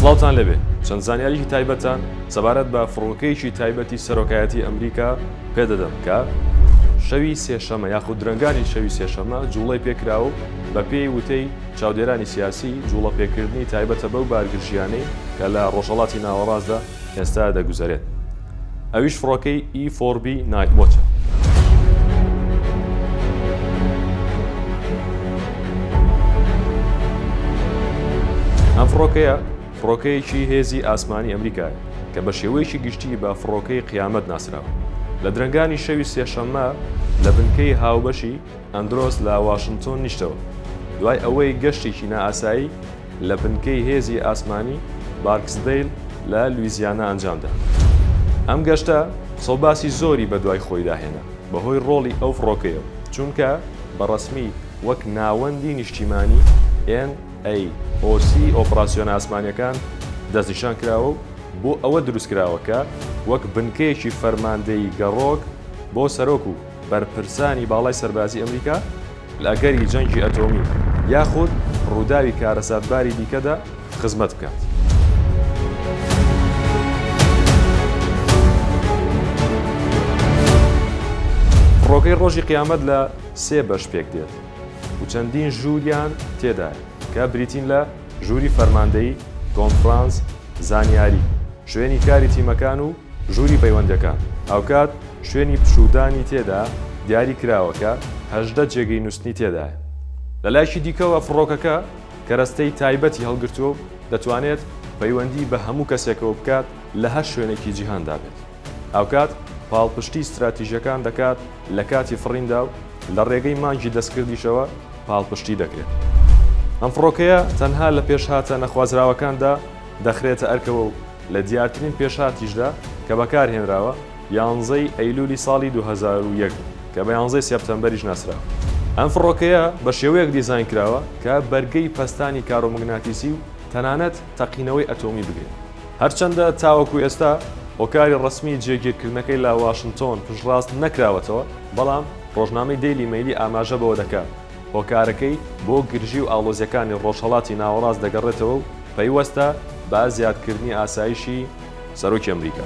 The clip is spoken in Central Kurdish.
سڵاوتان لەبێ چەند زانیاریی تایبەتتان سەبارەت بە فڕۆکەیەکی تایبەتی سەرۆکایەتی ئەمریکا پێدەدەم کە شەوی سێشەمە یاخود درەنگانی شەوی سێشەمە جوڵەی پێکرا و بە پێی وتەی چاودێرانی سیاسی جوڵە پێکردنی تایبەتە بەو بارگرژیانەی کە لە ڕۆژەڵاتی ناوەڕاستدا ئێستا دەگوزەرێت ئەویش فڕۆکەی ئی فۆڕ بی نایت وۆچە. ئەم فڕۆکەیە فڕۆکەیەکی هێزی ئاسمانی ئەمریکایە کە بە شێوەیەکی گشتی بە فڕۆکەی قیامەت ناسراوە لە درەنگانی شەوی سێشەممە لە بنکەی هاوبەشی ئەندرۆس لە واشنتۆن نیشتەوە دوای ئەوەی گەشتێکی نائاسایی لە بنکەی هێزی ئاسمانی بارکسدەیل لە لویزیانا ئەنجامدا. ئەم گەشتە سوباسی زۆری بەدوای خۆیدا هێنا بەهۆی ڕۆڵی ئەو فڕۆکەیەوە، چونکە بە ڕەسمی وەک ناوەندی نیشتیمانی، NAOC، ی ئۆپڕاسیۆنە ئاسمانییەکان دەستنیشان کراوە و بۆ ئەوە دروستکراوە کە وەک بنکەیەکی فەرماندەیی گەڕۆک بۆ سەرۆک و بەرپرسانی باڵای سەربازی ئەمریکا لە ئەگەری جەنگی ئەتۆمی یاخود ڕووداوی کارەساتباری دیکەدا خزمەت بکات. فڕۆکەی ڕۆژی قیامەت لە سێ بەش پێک دێت و چەندین ژووریان تێدایە کە بریتین لە ژووری فەرماندەیی، کۆنفرانس، زانیاری، شوێنی کاری تیمەکان و ژووری پەیوەندەکان، هاوکات شوێنی پشوودانی تێدا دیاری کراوە کە هەژدە جێگەی نووستنی تێدایە. لە لایەکی دیکەوە فڕۆکەکە کەرەستەی تایبەتی هەڵگرتووە و دەتوانێت پەیوەندی بە هەموو کەسێکەوە بکات لە هەر شوێنێکی جیهاندا بێت. هاوکات پاڵپشتی ستراتیژەکان دەکات لە کاتی فڕیندا و لە ڕێگەی مانگی دەستکردیشەوە پاڵپشتی دەکرێت. ئەم فڕۆکەیە تەنها لە پێشهاتە نەخوازراوەکاندا دەخرێتە ئەرکەوە و لە دیارترین پێشهاتیشدا کە بەکارهێنراوە، یانزەی ئەیلولی ساڵی دوو هەزار و یەک بوو، کە بە یانزەی سێپتەمبەریش ناسراوە. ئەم فڕۆکەیە بە شێوەیەک دیزاین کراوە کە بەرگەی پەستانی کارۆموگناتیسی و تەنانەت تەقینەوەی ئەتۆمی بگرێت. هەرچەندە تاوەکو ئێستا هۆکاری ڕەسمیی جێگیرکردنەکەی لە واشنتۆن پشتڕاست نەکراوەتەوە، بەڵام ڕۆژنامەی دەیلی مەیلی ئاماژە بەوە دەکات، هۆکارەکەی بۆ گرژی و ئاڵۆزییەکانی ڕۆژهەڵاتی ناوەڕاست دەگەڕێتەوە و، پەیوەستە بە زیادکردنی ئاسایشی سەرۆکی ئەمریکا.